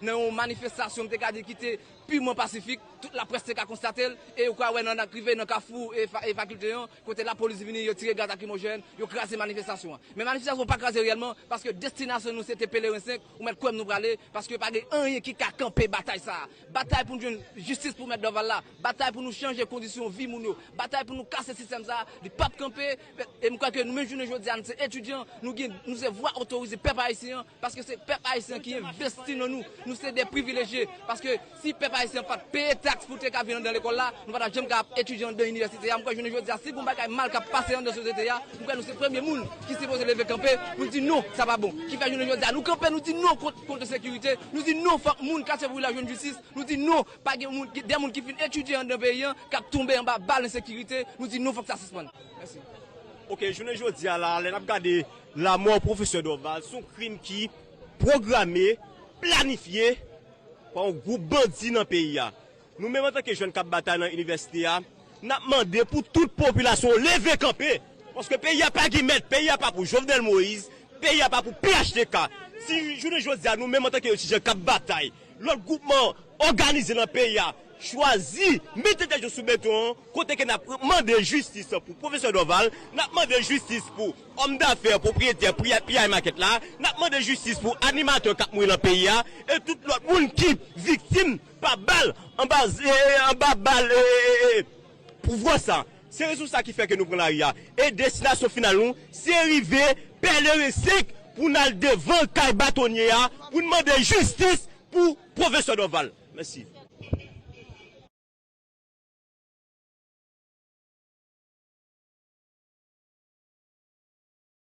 Nan yon manifestasyon m te ka di ki te piman pasifik, tout laprès te ka konstate l, e ou ka wè nan ak rive nan kafou e fakilte an, kote lapolis vini, yo tire gaz lakrimojèn, yo kraze manifestasyon an. Men manifestasyon an pa kraze reyèlman, paske destinasyon nou se te Peleren 5, ou mèt kwè m nou prale, paske pa gen anyen ki ka kanpe batay sa a. Batay pou n jwenn jistis pou mèt Dorval la, batay pou nou chanje kondisyon vi moun yo, batay pou nou kase sistèm sa a, li p ap kanpe, E m kwè ke nou menm jounen jodi a nou se etidyan, nou gen, nou se vwa otorize pèp ayisyen an, paske se pèp ayisyen an ki envesti nan nou, nou se de privilejye, paske si pèp ayisyen an pa t peye taks pou te ka vin anndan lekòl la, nou pa t ap janm ka ap etidye anndan inivèsite a, m kwè jounen jodi a si gon bagay mal k ap pase anndan sosyete a, m kwè nou se premye moun ki sipoze leve kanpe pou n di non, sa pa bon, ki fè jounen jodi a nou kanpe nou di non kont ensekirite, nou di non fòk moun katye Brila jwenn jistis, nou di non. Pa gen moun, gen de moun ki fin etidye anndan peyi an k ap tonbe anba bal ensekirite, nou di non fòk sa sispann. Mèsi. Ok, jounen jodi a la a, lè n ap gade lamò pwofesè Dorval, s on krim ki pwograme, planifye pa yon gwoup bandi nan peyi a. Nou menm antanke jèn k ap batay nan inivèsite a, n ap mande pou tout popilasyon an leve kanpe, paske peyi a pa gen mèt, peyi a pa pou Jovenel Moïse, peyi a pa pou phtk. Si jounen jodi a nou menm antanke etidyan k ap batay, Lòt gwoupman òganize nan peyi a chwazi mete tèt yo sou beton an kote ke nap mande jistis pou pwofesè Dorval, nap mande jistis pou òm dafè pwopriyetè piyay makèt la, nap mande jistis pou animatè kap mouri nan peyi a e tout lòt moun ki viktim pa bal anba bal pouvwa sa. Se rezon sa ki fè ke nou pran lari a e destinasyon final nou se rive Pèleren 5 pou n al devan kay batonye a pou n mande jistis pou Pwofesè Dòval. Mèsi.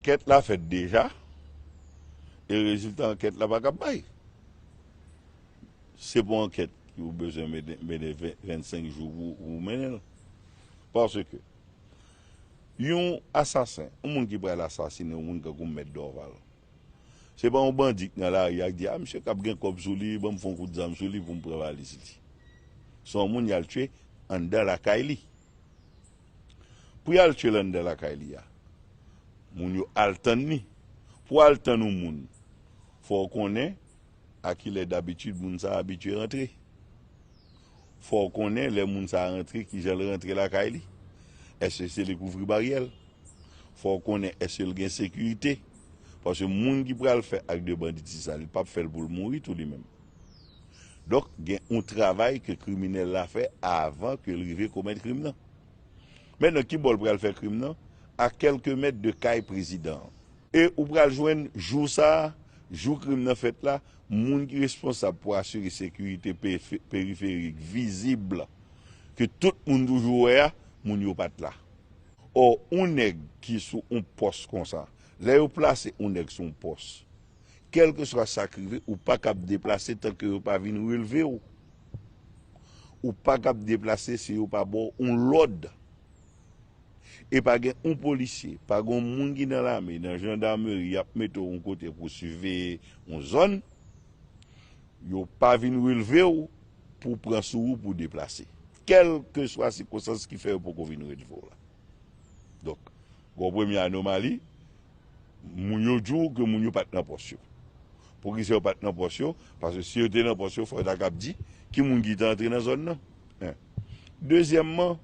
Ankèt la fèt deja e rezilta ankèt la pa ka bay. Se pou ankèt ki ou bezwen mennen 25 jou pou ou mennen l. Paske. Yon asasen, yon moun ki pral asasinen yon moun kankou mèt Dorval. Se pa yon bandi ki nan lari a ki di a misye kab gen kòb sou li banm fon kout zam sou li poum pran valiz li. Se yon moun yal tye anndan lakay li. Pou yal tye l anndan lakay li a, moun yo al tann li. Pou al tann yon moun, fò w konnen a kilè dabitid moun sa abitye rantre. fò w konnen lè moun sa a rantre ki jan l rantre lakay li, èske se li k ouvri baryè l, fò w konnen èske l gen sekirite, paske moun ki pral fè ak de banditis sa li p ap fè l pou l mouri tou li menm. Donk gen yon travay ke kriminèl la fè avan ke l rive komèt krim nan. Men nan ki bò l pral fè krim nan? A kèlke mèt de kay prezidan an. E ou pral jwenn jou sa a, jou krim nan fèt la, moun ki responsab pou asire sekirite periferik vizib ke tout moun toujou wè a, moun yo pa t la. Ò, yon nèg ki sou yon pòs konsa, lè yo plase yon nèg sou yon pòs, kèlkeswa sa k rive, ou pa kab deplase tan ke yo pa vin relve w. Ou pa kab deplase si yo pa ba w yon lòd. e pa gen yon polisye, pa gen yon moun ki nan lame, nan jandameri yap mete w yon kote pou siveye yon zòn, yo pa vin relve w pou pran sou ou pou deplase. Kèlkeswa sikonstans ki fè yo poko vin relve w la. Donk, gen yon premye anomali, moun yo di w ke moun yo pat nan pòs yo. Poukisa yo pat nan pòs yo? Paske si yo te nan pòs yo, fò yo ta kab di ki moun ki te antre nan zòn nan. Dezyèmman,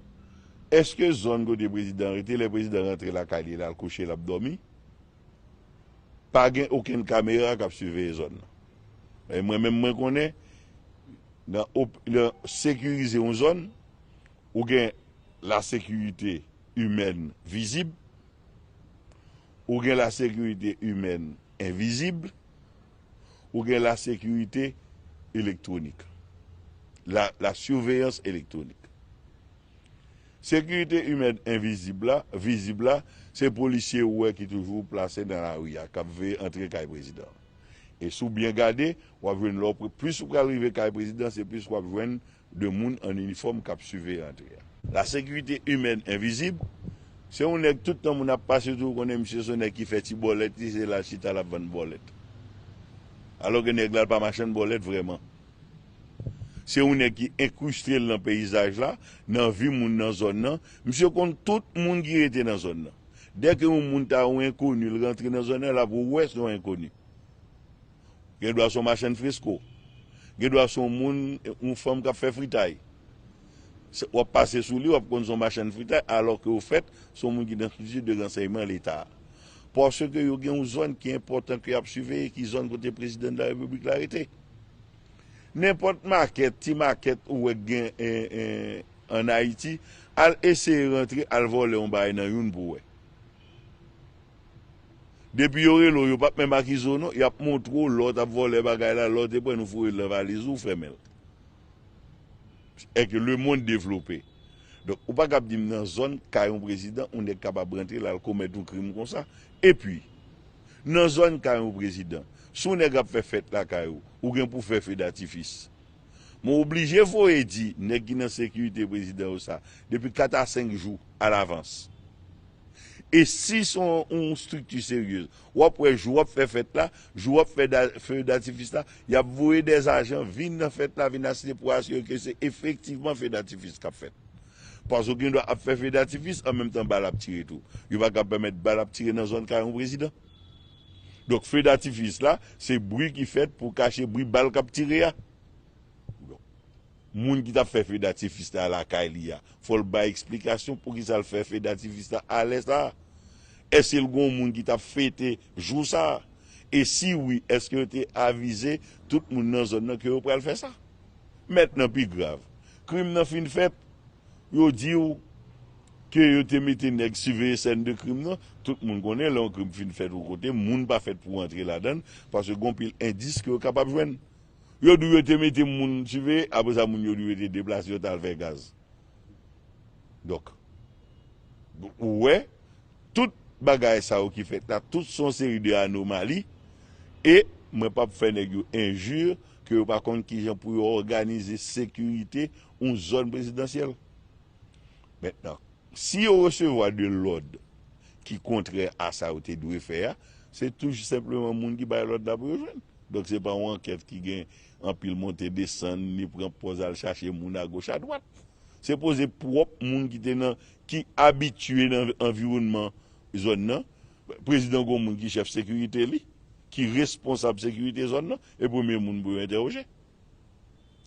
èske zòn kote prezidan an rete lè prezidan rantre lakay li, l al kouche, l ap dòmi, pa gen okenn kamera k ap siveye zòn nan? Paske mwen menm mwen konnen nan sekirize yon zòn, ou gen lasekirite imèn vizib, ou gen lasekirite imèn envizib. ou gen la sekirite elektwonik, la surveillance électronique. Sekirite imèn envizib la, vizib la, se polisye ou wè ki toujou plase nan lari a, k ap veye antre kay prezidan an. E si w byen gade, w ap jwenn lè w, plis ou pral rive kay prezidan, se plis w ap jwenn, de moun an inifòm kap siveye antre a. La sécurité humaine invisible, se yon nèg tout tan moun ap pase sou ou konnen misye se yon nèg ki fè ti bòlèt li se lal chita lap vann bòlèt. Alò ke nèg la pa machann bòlèt vrèman. Se yon nèg ki enkrustel nan peyizaj la, nan vi moun nan zòn nan, misye konn tout moun ki rete nan zòn nan. Dèke yon moun ta yon enkoni l rantre nan zòn nan lap wè se yon enkoni. Gen dwa se yon machann fresko. Gen dwa se yon moun, yon fanm k ap fè fritay. W ap pase sou li, w ap konn se yon machann fritay, alò ke ofèt, se yon moun ki nan strikti de ransèyman Leta. Paske yo gen yon zòn ki enpòtan ke y ap siveye, ki zòn kote Prezidan de la Repiblik la rete. Nenpòt makèt, ti makèt ou wè k gen ann Ayiti, al eseye rantre, al vòlè yon bagay nan youn pou w wè. Depi yo rele w yo pap menm akize w non yap montre w lè w tap vòlè bagay la lè w te pran nou foure l nan valiz ou w fèmen l èk le mond devlope donk ou pa kab di m nan zòn kay yon prezidan yon nèg kapab rantre la l komèt yon krim konsa epi nan zòn kay yon prezidan si yon nèg ap fè fèt lakay ou ou gen pou w fè fe datifis men w oblije voye di nèg ki nan sekirite prezidan yo sa depi 4 a 5 jou alavans. E si son yon strikti seryez, wap wè jou wap fè fèt la, jou wap fè feu datifis la, yap voye des ajan vin nan fèt la vin asiste pou asire ke se efektivman feu datifis kap fèt. Paske ou gen dwa ap fè feu datifis an menm tan bal ap tire tou. Yo pa kab pèmèt bal ap tire nan zòn kay yon prezidan. Donk feu datifis la se bri ki fèt pou kache bri bal kap tire a. Moun ki tap fè feu datifis la lakay li a fòl bay eksplikasyon poukisa l fè feu datifis la alè sa? Èske l gon moun ki tap fete jou sa? E si wi èske yo te avize tout moun nan zòn nan ke yo pral fè sa? Mentnan pi grav, krim nan fin fèt, yo di w ke yo te mete nèg siveye sèn de krim nan, tout moun konnen lè yon krim fin fèt yon kote moun pa fèt pou w antre ladan l paske gon pil endis ke yo kapab jwenn Yo di w yo te mete moun Chile, apre sa moun yo di w yo te deplase yo t al fè gaz. Donk, ou wè, tout bagay sa yo ki fèt la, tout son seri de anomali, e mwen pap fè nèg yo enji ke yo pa konn kijan pou yo òganize sekirite yon zòn prezidansyèl. Mentnan, si yo resevwa de lòd ki kontrè a sa yo te dwe fè a, se tou senpleman moun ki bay lòd la pou yo jwenn. Donk se pa yon ankèt ki gen anpil monte desann, ni pran pòz al chache moun agoch adwat. Se poze pwòp moun ki te nan, ki abitye nan anviwònman zòn nan. Prezidan gon moun ki chèf sekirite li, ki responsab sekirite zòn nan, e premye moun pou yo entèwoje.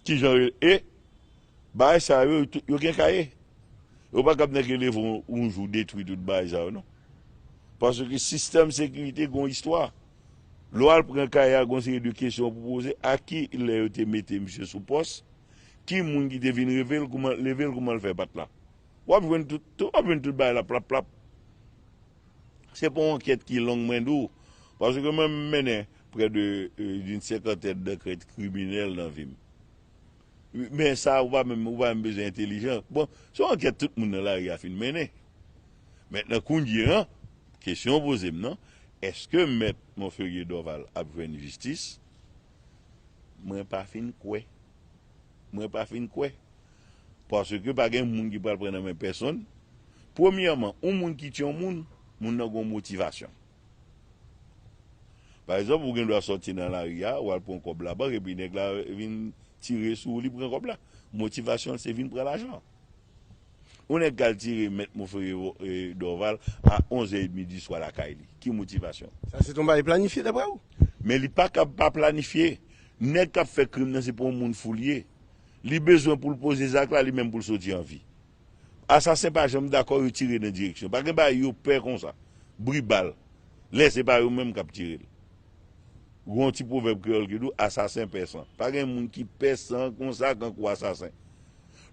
Kijan yo e bagay sa yo yo gen kaye yo pa kab nèg yo leve yon jou detwi tout bagay sa yo non paske sistèm sekirite gon istwa lè w al pran kaye a gon seri de kesyon pou w poze a ki lè yo te mete misye sou pòs ki moun ki te vin reve l kouman leve l kouman l fè pat la w ap jwenn tout w ap jwenn tout bagay la plap plap. Se pa yon ankèt ki long mwen di w, paske mwen m mennen prè de d'une cinquantaine d'ankèt kriminèl nan vi m. Men sa ou pa menm bezwen entelijan. Bon, se yon ankèt tout moun nan lari a fin mennen. Mentnan kounye an, kesyon ou poze m nan, eske mèt Monferrier Dorval ap jwenn jistis, mwen pa fin kwè. Mwen pa fin kwè. Paske pa gen moun ki pral pran nan men pèsonn. Premyèman, yon moun ki tye yon moun, moun nan gen yon motivasyon. Pa egzanp, ou gen dwa soti nan lari a, ou al pran kòb labank epi nèg la vin tire sou ou li pran kòb la. Motivasyon l se vin pran lajan an. Yon nèg kal tire mèt Monferrier Dorval a 11 è edmi di swa lakay li, ki motivasyon? Sa se t yon bagay planifye daprè ou? Men li pa kab pa planifye. Nèg kap fè krim nan se pa yon moun fou li ye. Li bezwen pou l poze zak la li menm pou l soti an vi. Asasen pa janm dakò yo tire nan direksyon. Pa gen bagay yo pè konsa. Bri bal. Lè se pa yo menm kap tire l. Gen yon ti pwovèb kreyòl ki di w asasen pè san. Pa gen moun ki pè san konsa kankou asasen.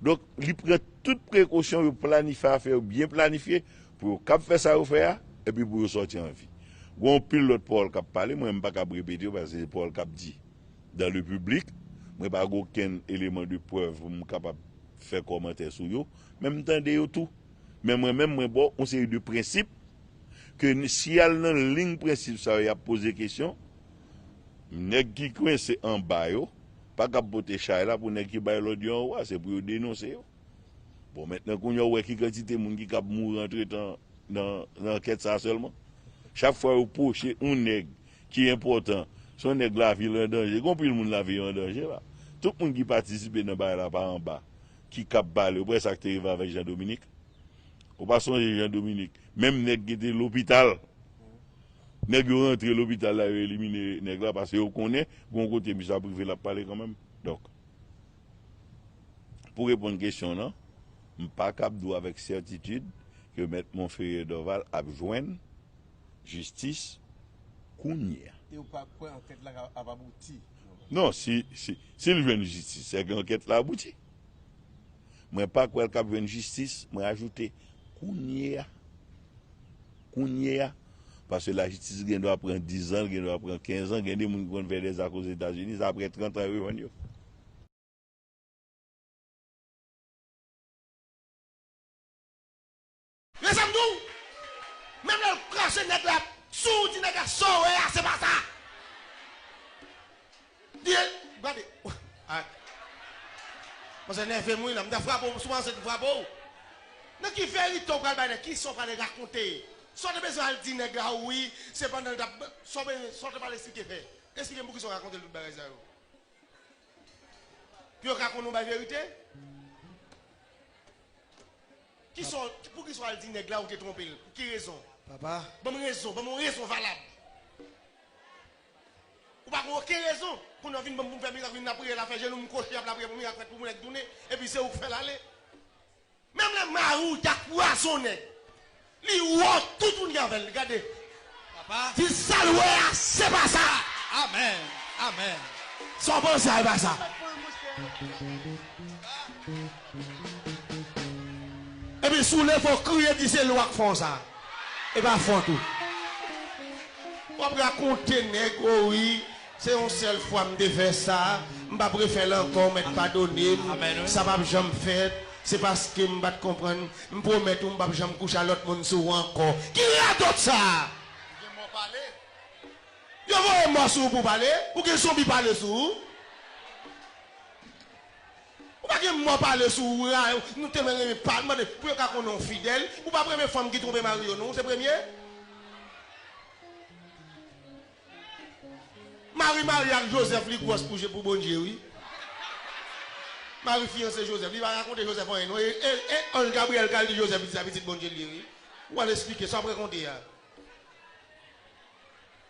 Donk, li pran tout prekosyon, yo planifye afè yo byen planifye pou yo kab fè sa yo fè a, epi pou yo sòti an vi. Gou anpil lòt pawòl k ap pale, mwen menm m pa kab repete yo paske se pawòl k ap di dan le piblik. Mwen pa gen okenn eleman de prèv pou m kapab fè kòmantè sou yo, men m tande yo tou. Men mwen menm mwen ba w yon seri de prensip ke si y al nan ling prensip sa yo y ap poze kesyon, nèg ki kwense anba yo, Pa kab pote chay la pou nèg ki bay lòd yo anwo a, se pou yo denonse yo. Bon mentnan kounye a ou wè ki kantite moun ki kab mouri antretan nan ankèt sa a sèlman. Chak fwa yo pwoche yon nèg ki enpòtan, se yon nèg lavi l an danje. Gen anpil moun lavi yo an danje la. Tout moun ki patisipe nan bagay la pa anba ki kab pale. Ou pa wè sa k te rive avèk Jean Dominique? Ou pa sonje Jean Dominique? Menm nèg ki te lopital. Nèg yo rantre lopital la yo elimine nèg la pase yo konnen gon kote misye ap rive lap pale kanmenm donk pou reponn kesyon w lan m pa kab di w avèk sètitid ke mèt Monferrier Dorval ap jwenn jistis kounyea. E w pa kwè ankèt la ap abouti? Non si l jwenn jistis se ke ankèt la abouti mwen pa kwè l kap jwenn jistis mwen ajoute kounyea. kounye a, paske lajistis gen dwa pran 10 zan, gen dwa pran 15 zan, gen de moun ki konn fè de zak ozetazini, se apre 30 an yo jwenn yo. Men sa m di w, menm lè l krache nèg la sou w, di nèg la sa w wè a se pa sa. Gade ak Manzè nèvem wi la, m ta frape w sou manzè m frape w Nan ki verite w pral bay nèg, kisa w prale rakonte Sa w te bezwen al di nèg la wi, se pandan l tap Sa w bezwen, sa w te pral esplike fè Esplike m poukisa w rakonte l tout bagay sa yo Pou yo ka konnen w bay verite Kisa w, poukisa w al di nèg la ou te twonpe l, pou ki rezon Papa Banm rezon, banm yon rezon valab. Ou pa gen oken rezon. Kounye w vin banm poum fè mirak vin lapriyè la fè jenou m kwochi ap lapriyè pou mirak fèt pou mwen k tounen epi se ou k fèl ale. Menm lè mariw ta pwazonnen li wont tout moun ki avèl gade di sal wè a se pa sa. Amen amen. Sa w panse a e pa sa. Epi si w leve w kriye di se li w ak fon sa. E pa fon tou. W ap rakonte nèg o wi se yon sèl fwa m te fè sa, m pap refè l ankò w mèt padone m, sa pap janm fèt, se paske m pat konprann, m pwomèt ou m pap janm kouche a lòt moun sou ou ankò. Ki radòt sa? Ou gen mò pale? Yo voye mò sou ou pou w pale? Ou gen zonbi pale sou ou? Ou pa gen mo pale sou ou ra yo nou telman renmen pa mande pou yo ka konnen ou fidèl ou pa premye fanm ki twonpe mari yo non ou se premye Mari marye ak Joseph li gwòs pou je pou Bondye wi Mari fiyanse Joseph li pa rakonte Joseph anyen non e anj Gabriel kal di Joseph li se pitit Bondye li ye wi ou al esplike sa wap rakonte a.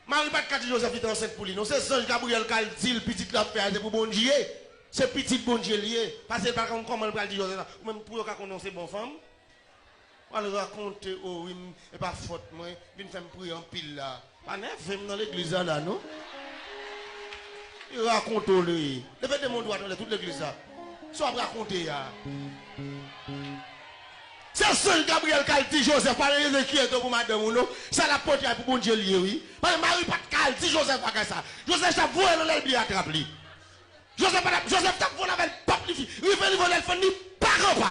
Mari pat ka di Joseph li te ansent pou li non se zanj Gabriel kal dil pitit lap fè a se pou Bondye se pitit Bondye liye pasel pa konn komanl pral di Joseph sa ou menm pou yo ka konnen ou se bon fanm wal rakonte oh wi m epa fòt mwen vin fèm priye anpil la pa nèvem nan legliz la la non li rakonte ou li leve de men ou dwat anlè tout legliz la sa wap rakonte a. Se sèl Gabriel kal di Joseph pa gen enkyete w pou madanm ou non sa lap pote a pou Bondye l ye wi paske Marie pat ka al di Joseph bagay sa Joseph tap voyel anlè lbyen atrap li Joseph patap Joseph tap vole avèl pap li rive li volel fann li pa kan pa.